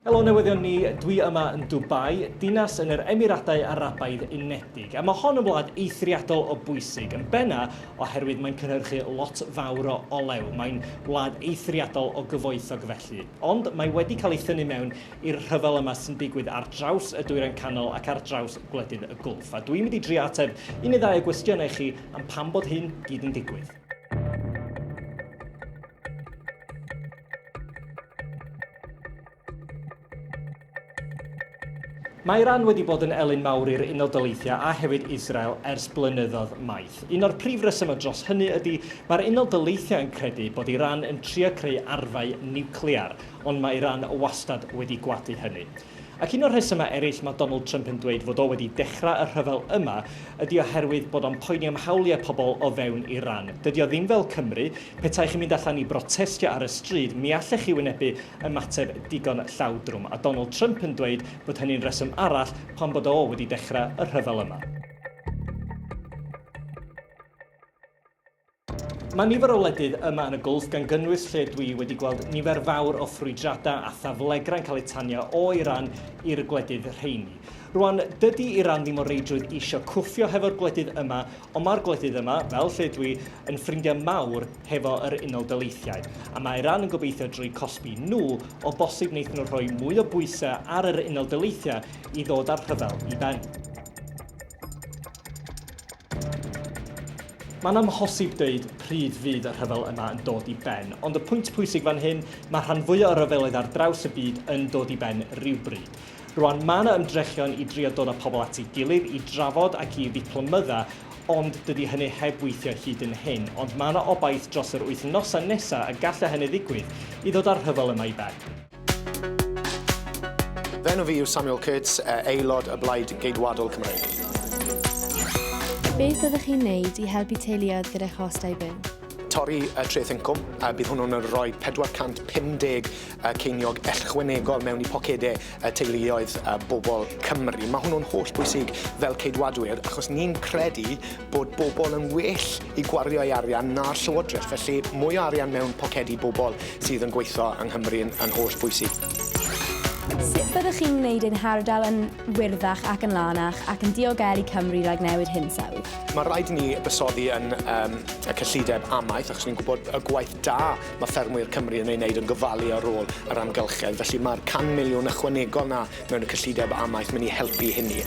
Helo newyddion ni, dwi yma yn Dubai, dinas yn yr Emiradau Arabaidd Unedig, a mae hon yn wlad eithriadol o bwysig, yn benna oherwydd mae'n cynhyrchu lot fawr o olew, mae'n wlad eithriadol o gyfoethog felly. Ond mae wedi cael ei thynnu mewn i'r rhyfel yma sy'n digwydd ar draws y Dwyrain Canol ac ar draws gwledydd y Gwlff, a dwi'n mynd i drio ateb un neu ddau o gwestiynau chi am pam bod hyn gyd yn digwydd. Mae Iran wedi bod yn elyn mawr i'r Unol Daleithiau a hefyd Israel ers blynyddoedd maith. Un o'r prif resymau dros hynny ydy mae'r Unol Daleithiau yn credu bod Iran yn trio creu arfau niwclear, ond mae Iran wastad wedi gwadu hynny. Ac un o'r rhesymau eraill mae Donald Trump yn dweud fod o wedi dechrau y rhyfel yma ydi oherwydd bod o'n poeni am hawliau pobl o fewn Iran. Dydi o ddim fel Cymru, petai chi'n mynd allan i brotestio ar y stryd mi allech chi wynebu ymateb digon llawdrwm, a Donald Trump yn dweud bod hynny'n reswm arall pam bod o wedi dechrau y rhyfel yma. Mae nifer o wledydd yma yn y Gwlff gan gynnwys lle dwi wedi gweld nifer fawr o ffrwydradau a thaflegrau'n cael eu tanio o Iran i'r gwledydd rheini. Rwan, dydy Iran ddim o reidrwydd isio cwffio hefo'r gwledydd yma, ond mae'r gwledydd yma, fel lle dwi, yn ffrindiau mawr hefo yr Unol Daleithiau, a mae Iran yn gobeithio drwy cosbi nhw, o bosib wneith nhw rhoi mwy o bwysau ar yr Unol Daleithiau i ddod â'r rhyfel i ben. Mae'n amhosib dweud pryd fydd y rhyfel yma yn dod i ben, ond y pwynt pwysig fan hyn, mae rhan fwyaf o ryfeloedd ar draws y byd yn dod i ben rhywbryd. Rwan, mae yna ymdrechion i drio dod â pobl at ei gilydd, i drafod ac i ddiplomydda, ond dydy hynny heb weithio hyd yn hyn. Ond mae yna obaith dros yr wythnosau nesaf y gallai hynny ddigwydd, i ddod â'r rhyfel yma i ben. Fy enw fi yw Samuel Kurtz, eh, aelod y Blaid Geidwadol Cymreig. Beth fyddwch chi'n neud i helpu teuluoedd gyda chostau byw? torri y treth incwm, a bydd hwnnw'n rhoi 450 ceiniog ellchwanegol mewn i pocedau y teuluoedd a bobl Cymru. Mae hwnnw'n holl bwysig fel ceidwadwyr, achos ni'n credu bod bobl yn well i gwario ei arian na'r Llywodraeth, felly mwy o arian mewn pocedi bobl sydd yn gweithio yng Nghymru yn holl bwysig. Sut byddwch chi'n gwneud ein hardal yn wyrddach ac yn lanach ac yn diogelu Cymru rhag newid hinsawdd? Mae rhaid i ni fusoddi yn um, y cyllideb amaeth, achos ni'n gwybod y gwaith da mae ffermwyr Cymru yn ei wneud yn gofalu ar ôl yr amgylchedd. Felly mae'r 100 miliwn ychwanegol na mewn cyllideb amaeth, mynd i helpu hynny.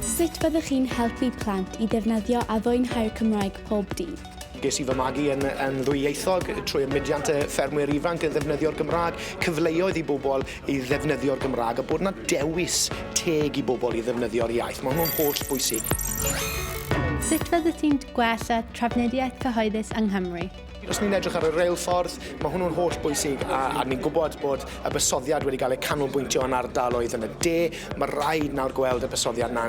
Sut fyddech chi'n helpu plant i ddefnyddio a fwynhau'r Cymraeg pob dydd? Ges i fy magu yn yn ddwyieithog trwy y mudiant yy ffermwyr ifanc yn ddefnyddio'r Gymraeg, cyfleoedd i bobl i ddefnyddio'r Gymraeg a bod 'na dewis teg i bobl i ddefnyddio'r iaith, ma' hwnnw'n holl bwysig. Sut fyddet ti'n gwella trafnidiaeth cyhoeddus yng Nghymru? Os ni'n edrych ar y reilffordd, mae hwnnw'n holl bwysig a, a ni'n gwybod bod y bysoddiad wedi cael ei canolbwyntio yn ardaloedd yn y de. Mae rhaid nawr gweld y bysoddiad yna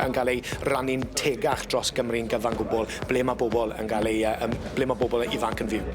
yn cael ei rannu'n tegach dros Gymru'n gyfan gwbl, ble mae bobl yn cael ei, ble mae bobl ifanc yn fyw.